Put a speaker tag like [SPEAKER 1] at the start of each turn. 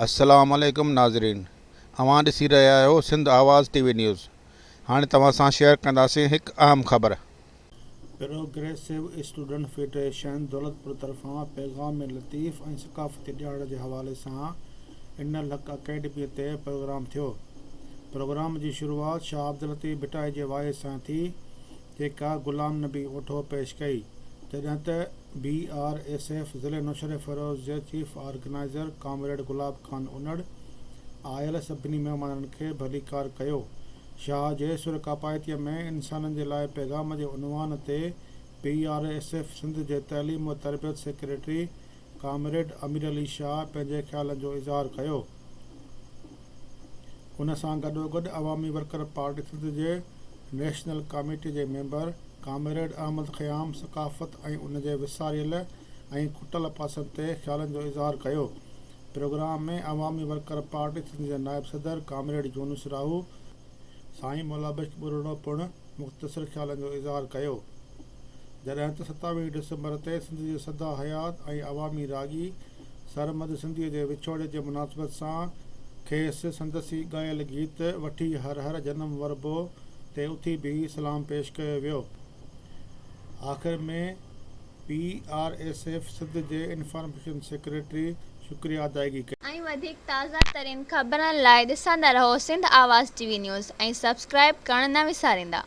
[SPEAKER 1] السلام عليڪم ناظرين اوهان ڏسي رهيا آهيو Sindh Awaz T V news هاڻي توهان سان شيئر ڪنداسين هڪ اهم خبر.
[SPEAKER 2] پروگريسو اسٽوڊنٽ فيڊريشن دولتپور طرفان پيغام لطيف ۽ ثقافتي ڏهاڙي جي حوالي سان ان لڪ اڪيڊميء تي پروگرام ٿيو. پروگرام جي شروعات شاهه عبداللطيف ڀٽائي جي واعظ سان ٿي، جيڪا غلام نبي اوٺو پيش ڪئي، جڏهن ته بي آر ايس ايف ضلعي نوشهروفيروز جي chief organizer comrade Gulab Khan Unar آيل سڀني مهمانن کي ڀليڪار ڪيو. شاهه جي سر ڪاپائتيء ۾ انسانن جي لاء پيغام جي عنوان تي B R S F Sindh جي تعليم و تربيت سيڪريٽري ڪامريڊ امير علي شاهه پنهنجي خيالن جو اظهار ڪيو. ان سان گڏوگڏ عوامي ورڪر پارٽي سنڌ جي نيشنل ڪاميٽي جي ميمبر ڪامريڊ احمد خيام ثقافت ۽ ان جي وساريل ۽ کٽل پاسن تي خيالن جو اظهار ڪيو. Program ۾ Awami worker party Sindh جي نائب صدر ڪامريڊ يونس راهو، سائين مولا بخش ٻرڙو پڻ مختصر خيالن جو اظهار ڪيو. جڏهن ته ستاويهه ڊسمبر تي سنڌ جي سدا حيات ۽ عوامي راڳي سرمد سنڌيء جي وڇوڙي جي مناسبت سان کيس سندس ئي ڳايل گيت وٺي هر هر جنم وربو تي اٿي بيهي سلام پيش ڪيو ويو. آخر ۾ P R S F Sindh جي انفارميشن سيڪريٽري شڪريا ادائگي ڪئي. ۽ وڌيڪ تازه
[SPEAKER 3] ترين خبرن لاء ڏسندا رهو Sindh Awaz T V news ۽ subscribe ڪرڻ نه وساريندا.